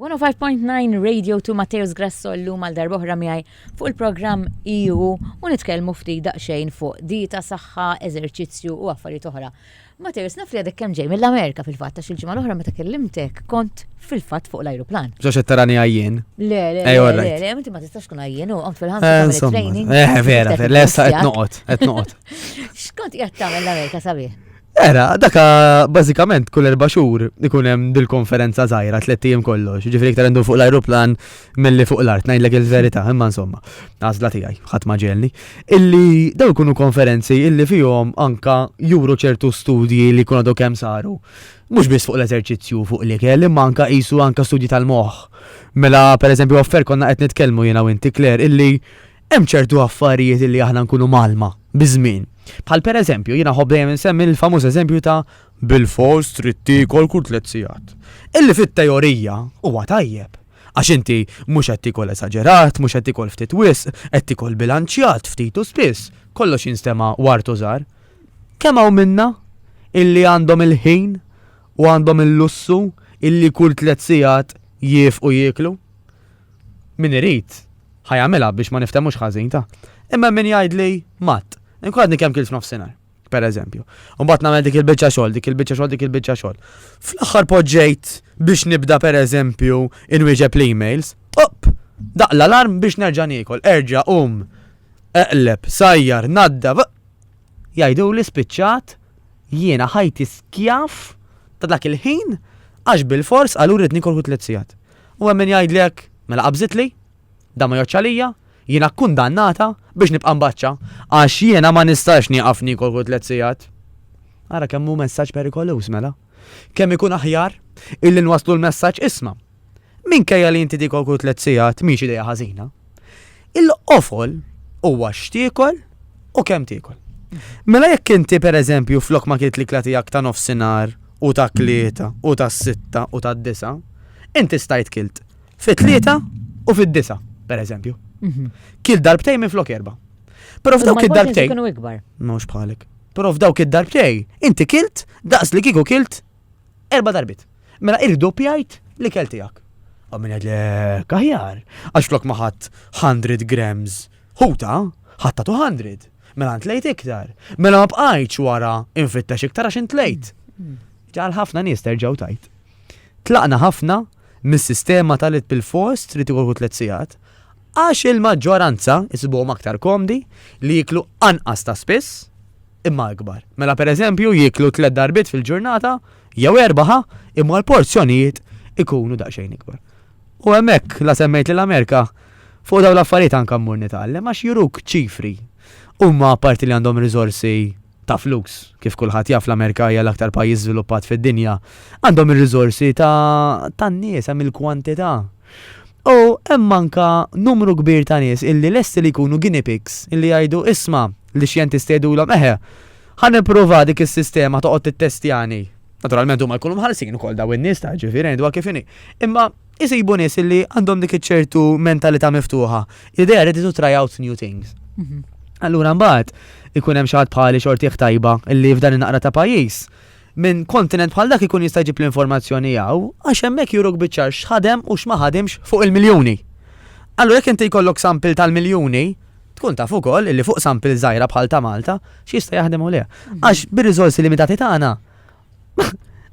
S1: 105.9 Radio to Matteus Grasso l-lum għal darboħra miħaj fuq il-programm EU u nitkelmu ftit daqxejn fuq dieta, saħħa, eżerċizzju u affarijiet oħra. Matteus, naf li għadek kemm ġej mill-Amerika fil-fatt għax il-ġimgħa l-oħra meta kellimtek kont fil-fatt fuq l-ajruplan. Ġo xed tarani għajjien.
S2: Le, le, le, le,
S1: le, inti ma tistax kun għajjien u għamt fil-ħansa eh, tagħmel training. Eh, vera, vera, lesta
S2: qed noqgħod, qed noqgħod. X'kont
S1: qiegħed tagħmel l-Amerika sabiħ? Era, daka
S2: bażikament kull erba' xhur ikun hemm dil-konferenza żgħira tliet ijiem kollox, ġifieri iktar għandu fuq l-ajruplan milli fuq l-art, ngħidlek il-verità, imma insomma, għażla tiegħi, ħadd ma ġelni, illi daw ikunu konferenzi illi fihom anka juru ċertu studji li jkun għadu kemm saru. Mhux biss fuq l-eżerċizzju fuq li kell, imma anka qisu anka studji tal-moħħ. Mela, pereżempju, offer konna qed nitkellmu jiena u inti Kler illi Hemm ċertu affarijiet li aħna nkunu mgħallma biż-żmien. Bħal pereżempju, jien nħobb dejjem insemmi l-famuż eżempju ta' bilfors trid tiekol kull tliet sigħat. Illi fit-teorija huwa tajjeb, għax inti mhux qed tiekol esaġerat, mhux qed tiekol ftit wisq, qed tiekol bilanċjat, ftit u spiss, kollox jinstema' ward u żgħar. Kemm hawn minna illi għandhom il-ħin u għandhom il-lussu illi kull tliet sigħat jiefqu jieklu? Min irid, ħa jagħmilha biex ma niftehmux ħażin, ta? Imma hemm min jgħidli matt. Inkun għadni kemm kilt f'nofsinhar, per eżempju. U mbagħad nagħmel dik il-biċċa xogħol, dik il-biċċa xogħol, dik il-biċċa xogħol. Fl-aħħar poġġejt biex nibda per eżempju inwieġeb l-emails, opp! Daqq l-alarm biex nerġa' niekol, erġa' qum, eqleb, sajjar, naddaf, jgħiduli spiċċat jiena ħajti skjav ta' dak il-ħin għax bilfors qaluli rrid niekol kull tliet sigħat. u hemm min jgħidli hekk, mela qabżitli, dan ma jgħoddx għalija, jiena kkundannata biex nibqa' mbaċċa, għax jiena ma nistax nieqaf niekol kull tliet sigħat. Ara kemm hu messaġġ perikoluż mela! Kemm ikun aħjar illi nwasslu l-messaġġ isma', minkejja li inti tiekol kull tliet sigħat mhix idea ħażina, Il-qofol huwa x'tiekol u kemm tiekol. Mela jekk inti pereżempju flok ma kilt l-ikla tiegħek ta' nofsinhar u ta' tlieta u ta' sitta u ta' disa', inti stajt kilt fi tlieta u fid-disa', pereżempju. Kilt darbtejn minflok erba'. Però f'dawk id-darbtejn. Mhux bħalek. Però f'dawk id-darbtejn inti kilt daqs li kieku kilt Erba' darbiet. Mela irdoppjajt l-ikel tiegħek. U min għed lek aħjar, għax flok ma ħadd 100 grams ħuta, ħadd 200. Mela ntlejt iktar. Mela ma bqajtx wara infittex iktar għax intlejt. Ġal ħafna nies terġgħu tajt. Tlaqna ħafna mis-sistema tal-it bil-fost li tikolku tliet sigħat għax il-maġġoranza jsibuhom aktar komdi li jiklu anqas ta' spiss imma akbar. Mela pereżempju jieklu tliet darbiet fil-ġurnata jew erbgħa ħa, imma l-porzjonijiet ikunu daqsxejn ikbar. U hemmhekk la semmejt lil Amerika fuq dawn l-affarijiet anke mmur nitgħallem għax juruk ċifri. Huma apparti li għandhom riżorsi ta' flus, kif kulħadd jaf l-Amerika hija l-aktar pajjiż żviluppat fid-dinja, għandhom ir-riżorsi ta' tan-nies hemm il-kwantità. U hemm anke numru kbir ta' nies illi lesti li jkunu guinea pigs, illi jgħidu, isma', lix-xjentisti jgħidulhom, eħe, ħa nipprova dik is-sistema toqgħod tittestjani. Naturalment huma jkunu mħallsin ukoll dawn in-nies, ta' jiġifieri ngħiduha kif inhi. Imma isibu nies illi għandhom dik iċ-ċertu mentalità miftuħa, l-idea ready to try out new things. Allura mbagħad ikun hemm xi ħadd bħali xortih tajba illi f'dan in-naqra ta' pajjiż, minn kontinent bħal dak ikun jista' jġib l-informazzjoni hawn għax hemmhekk juruk biċ-ċar x'ħadem u x'ma ħadimx fuq il-miljuni. Allura jekk inti jkollok sample tal-miljuni, tkun taf ukoll illi fuq sample żgħira bħal ta' Malta x'jista' jaħdem u le. Għax bir-riżorsi limitati tagħna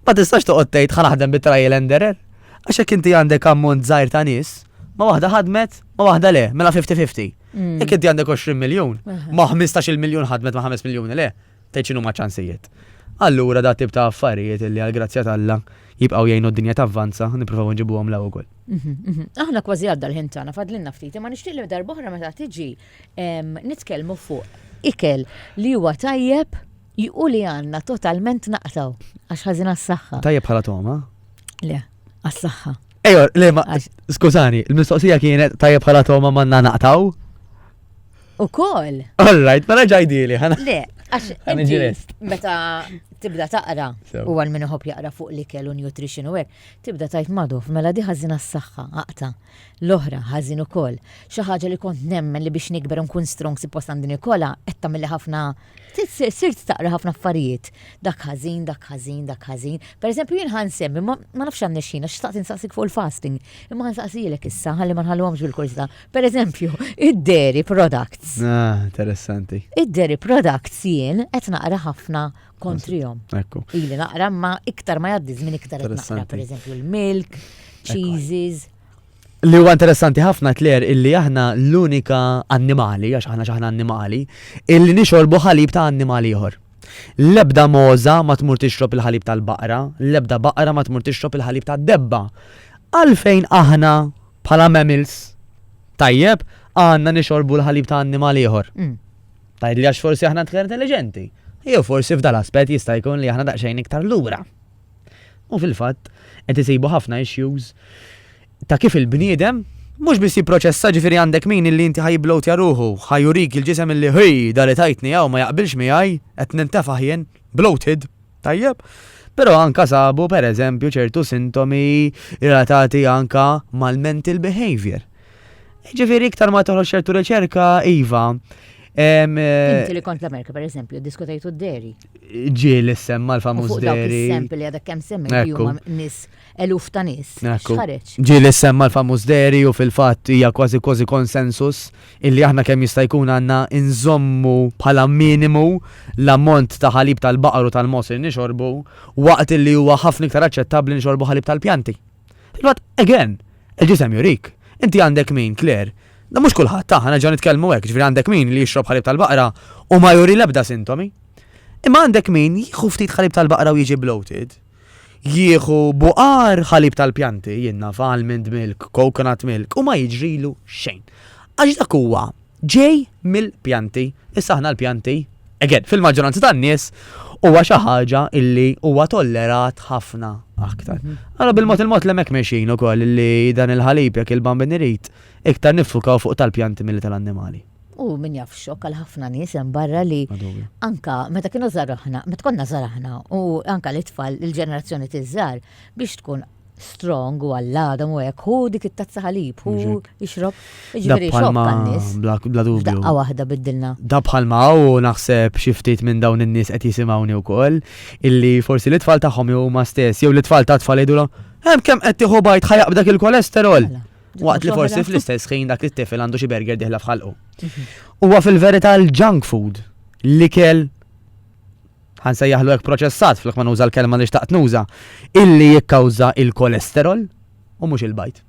S2: ma tistax toqgħod tgħid ħa naħdem bit-trial and error. Għax jekk inti għandek ammont żgħir ta' nies, ma waħda ħadmet, ma waħda le, mela 50-50. Jekk inti għandek 20 miljun, ma 15 miljun ħadmet ma 5 miljuni le, Tgħid x'inhuma ċ-ċansijiet? Allura dat tip ta' affarijiet li għall-grazzja t'Alla jibqgħu jgħinu d-dinja tavvanza, nippruvaw inġibuhom l-hawn ukoll. Mhm, mhm. Aħna kważi
S1: għadda l-ħin tagħna fadlinna ftit, imma nixtieq li darb'oħra meta tiġi nitkellmu fuq ikel li huwa tajjeb u li għandna totalment naqtaw għax
S2: ħażina
S1: s-saħħa. Tajjeb bħala
S2: toma?
S1: Le,
S2: għas-saħħa.
S1: Ejor,
S2: le ma. Skużani,
S1: il-mistoqsija
S2: kienet tajjeb bħala toma manna naqtaw? U
S1: koll. All right,
S2: ma raġaj dili, ħana. Le, għax. Meta
S1: tibda taqra, u għal minn uħob
S2: jaqra fuq
S1: li kellu nutrition u għek, tibda tajt maduf, mela di ħazina s-saxħa, għaqta, l-oħra ħazin u koll. ħaġa li kont nemmen li biex nikber nkun strong si post għandini kolla, etta mill ħafna Sirt taqra ħafna affarijiet. Dak ħażin, dak ħażin, dak ħażin. Per eżempju, jien ħan semmi, ma nafx għan nexxin, għax xtaqt insaqsik fuq il-fasting. Imma ħan saqsijilek issa, ħalli ma nħalluhomx bil-kursita. Per eżempju, id-dairy products. Ah, interessanti.
S2: Id-dairy products
S1: jien qed naqra ħafna kontrihom. Ekku. Ili naqra
S2: ma
S1: iktar ma jgħaddi żmien iktar qed naqra, per eżempju, l-milk, cheeses. Li huwa
S2: interessanti ħafna tler illi aħna l-unika annimali, għax aħna xaħna annimali, illi nixorbu ħalib ta' annimali ieħor. L-ebda moza ma tmur tixrob il-ħalib tal-baqra, l-ebda baqra ma tmur tixrob il-ħalib tad-debba. Għalfejn aħna bħala mammals tajjeb għandna nixorbu l-ħalib ta' annimali ieħor. Mm. Tajd li għax forsi aħna tkun intelligenti. Jew forsi f'dal aspett jista' jkun li aħna daqsxejn iktar lura. U fil-fatt, qed isibu ħafna issues ta' kif il-bniedem mhux biss jipproċessa ġifieri għandek min illi inti ħajibblowtja ruħu, ħajurik il-ġisem illi hi da li tajtni hawn ma jaqbilx miegħi, qed nintefaħ jien, bloated, tajjeb? Però anke sabu pereżempju ċertu sintomi relatati anke mal-mental behaviour. Ġifiri, iktar ma toħroġ ċertu riċerka, Iva. Eh,
S1: Inti li kont l-Amerika, per eżempju, diskutajtu d-deri. Ġil
S2: semma l-famuż deri.
S1: Eżempju
S2: li għadek
S1: kem
S2: semmi
S1: li huma nis eluf ta' nis. Ġil
S2: semma
S1: l-famuż
S2: deri u fil-fatt hija kważi kważi konsensus illi aħna kemm jista' jkun għandna inżommu bħala minimu l-ammont ta' ħalib tal-baqar u tal-mos li nixorbu waqt li huwa ħafna iktar aċċettabbli nixorbu ħalib tal-pjanti. Fil-fatt, again, il-ġisem jurik. Inti għandek min, Claire, Da mhux kulħadd ta' ħana ġew nitkellmu hekk, ġifieri għandek min li jixrob ħalib tal-baqra u ma juri l-ebda sintomi. Imma għandek min jieħu ftit ħalib tal-baqra u jiġi bloated, jieħu buqar ħalib tal-pjanti, jinna almond milk, coconut milk, u ma jiġrilu xejn. Għax dak huwa ġej mill-pjanti. Issa aħna l-pjanti, again, fil-maġġoranza tan-nies huwa xi ħaġa illi huwa tollerat ħafna aktar. Mhm. Allora bil-mod il-mod l hemmhekk mexin ukoll li dan il-ħalib jekk il-bambin irid iktar nifukaw fuq tal-pjanti milli tal-annimali. U min jaf
S1: xok għal ħafna nies hemm barra li anka meta kienu żaraħna, meta konna żaraħna u anka l-itfal il-ġenerazzjoni tiżżar biex tkun strong u għalladam u hekk, hu dik it-tazza ħalib, hu ixrob, iġveri xokk għannis. Bla dubju. Daqqa
S2: waħda biddilna.
S1: Da bħalma u
S2: naħseb xiftit minn dawn in-nies qed jisimgħuni wkoll, illi forsi l-itfall tagħhom jew ma stess, jew l-itfall ta' tfal jgħidulhom, hemm kemm qed tieħu bajt ħajaq b'dak il-kolesterol. Mela, Waqt li forsi fl-istess ħin dak it-tifel għandu xi burger diħla f'ħalqu. Mhm. Huwa fil-verità l-junk food, l-ikel ħa nsejjaħlu hekk proċessat flok ma nuża l-kelma li xtaqt nuża, illi jikkawża il-kolesterol u mhux il-bajt.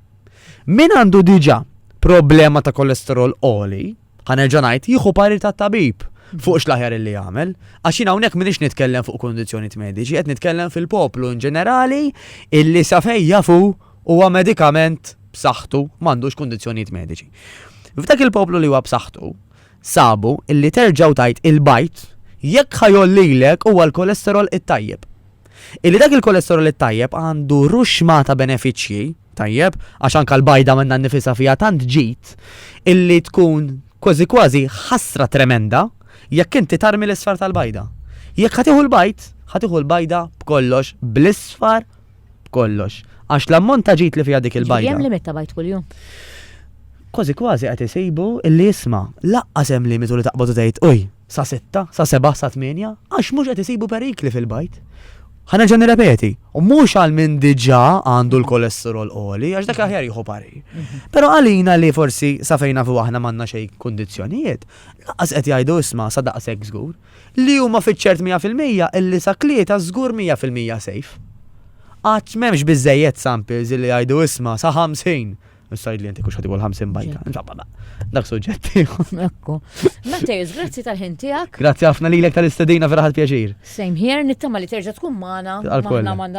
S2: Min għandu diġà problema ta' kolesterol oli, ħanerġa' ngħid jieħu pari ta' tabib fuq x'laħjar illi jagħmel, għax jien hawnhekk m'iniex nitkellem fuq kundizzjonijiet mediċi, qed nitkellem fil-poplu in ġenerali illi sa fejn jafu huwa medikament b'saħħtu m'għandux kundizzjonijiet mediċi. F'dak il-poplu li huwa b'saħħtu, Sabu illi terġgħu tgħid il-bajd jekk ħa jgħollilek huwa l-kolesterol it-tajjeb. Illi dak il-kolesterol it-tajjeb għandu ruxma ta' benefiċċji, tajjeb, għax anke l-bajda minnha nnifisha fiha tant ġid illi tkun kważi kważi ħasra tremenda jekk inti tarmi l-isfar tal-bajda. Jekk ħa tieħu l-bajd, ħa tieħu l-bajda b'kollox bl-isfar b'kollox. Għax l-ammont ta' ġid li fiha dik il-bajda. Jiġifieri hemm limit ta' bajd kuljum? Kważi kważi qed isibu illi isma', lanqas hemm limitu li taqbad u tgħid, uj, sa sitta, sa sebgħa, sa tmienja, għax mhux qed isibu perikli fil-bajd. Ħa nerġa' nirrepeti, u mhux għal min diġà għandu l-kolesterol għoli, għax dak aħjar jieħu parir. Però għalina li forsi sa fejn nafu aħna m'għandna xejn kundizzjonijiet, lanqas qed jgħidu isma' sa daqshekk żgur. Li huma fiċ-ċert mija fil-mija illi saklieta żgur mija fil-mija safe. Għad m'hemmx biżżejjed samples illi jgħidu isma' sa 50 Issa li jentik uxħati għol 50 bajta. Insomma, dak suġġett. Ekku.
S1: Matejus, grazzi tal-ħin tijak. Grazzi għafna li l-ek
S2: tal-istadina vera pjaċir. Same here, nittama
S1: li terġa tkun maħna.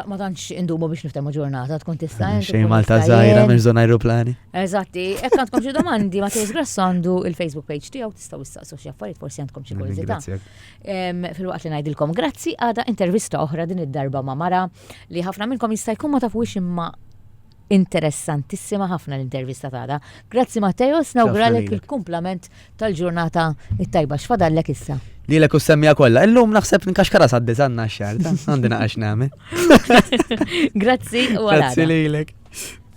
S1: Ma tanċ
S2: indumu
S1: biex niftemu ġurnata, tkun tista' Xej Malta zaħira,
S2: minn zona aeroplani. Eżatti, ekk
S1: għandkom xie domandi, Matejus Grass għandu il-Facebook page tijaw Staw istaqsu xi affarijiet forsi għandkom xi kurżità. Fil-waqt li ngħidilkom grazzi għada intervista oħra din id-darba ma' mara li ħafna minnkom jista' jkun ma tafux imma interessantissima ħafna l-intervista tagħna. Grazzi Matteo, snawgralek il-kumplament tal-ġurnata it-tajba x'fadallek issa. Li l semmija
S2: kollha, illum naħseb nkaxkara sa' diżanna x-xar, għandi naqax nagħmel. Grazzi u għal.
S1: Grazzi lilek.